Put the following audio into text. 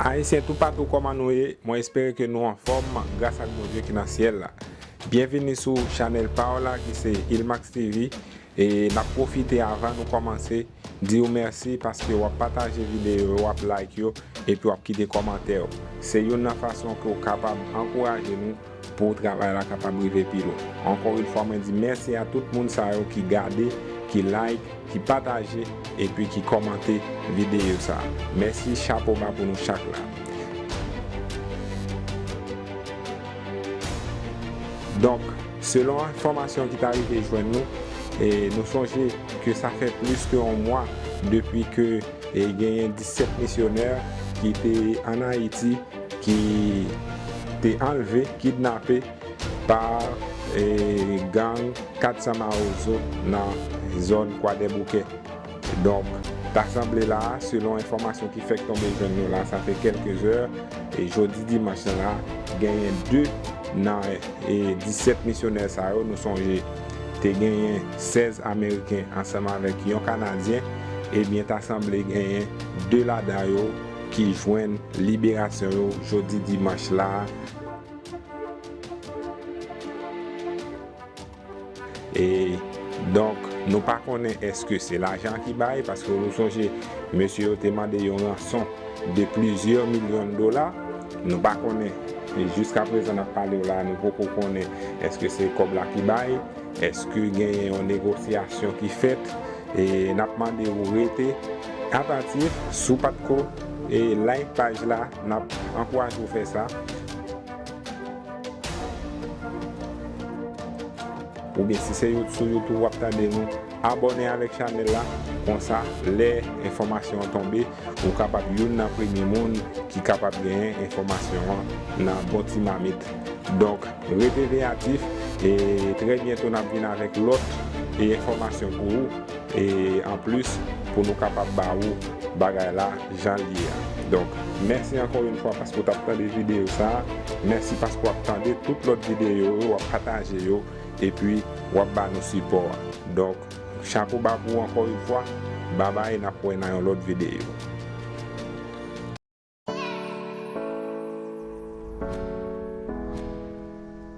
Ayisyen toupatou kòman nou ye mwen espere ke nou anfòm gras ak Bondye ki nan syèl la byenvini sou chanèl paw la ki se Ilmax TV E nap profite avan nou komanse diw merci paske wap pataje video yo wap like yo epi wap kite komantè yo se youn nan fason pouw kapab ankouraje nou pou travay la kapab rive pi lwen ankò yn fwa mwen di merci a tout moun sa yo ki gade ki like ki pataje epi ki komante video sa merci chapo ba pou nou chak la donk. Selon enfòmasyon ki ta rive jwenn nou, nou sonje ke sa fè plis ke yon mwa depi ke genyen 17 misyonè ki te an Ayiti ki te anlve, kidnape, pa gang 400 Mawozo nan zòn Kwadèboukè. Donk, ta sanble la, selon enfòmasyon ki fèk tonbe jwenn nou la sa fè kèlke zè, jodi dimanch lan la, genyen 2 nan 17 misyonè sa yo, nou sonje te genyen 16 ameriken ansanm avèk yon kanadyen, ebyen ta sanble genyen 2 ladan yo ki jwenn liberasyon yo jodi dimanch la. E donk nou pa konnen eske se lajan ki bay, paske nou sonje mesye yo te mande yon ranson de plizyè milyon dola, nou pa konnen jiska prezan n ap pale w la nou poko konnen eske se kòb la ki bay, eske genyen yon negosyasyon ki fèt, e n ap mande w rete atatif, si w pat ko like paj la n ap ankouraje w fè sa. Oubyen si se you sou youtube wap tande nou abòne avèk chanèl la konsa lè enfòmasyon an tonbe ou kapab youn nan premye moun ki kapab genyen enfòmasyon an nan bon ti mamit donk rete veyatif e trè byento nap vin avèk lòt enfòmasyon pou ou e anplis pou nou kapab ba ou bagay la. jan l ye a. Donk, mèsi ankò yon fwa paske w t ap tande videyo sa a. Mèsi paske w ap tande tout lòt videyo yo, w ap pataje yo, epi w ap ba nou sipò a. Donk, chapo ba pou ou ankò yon fwa. Babay, n ap wè nan yon lòt videyo.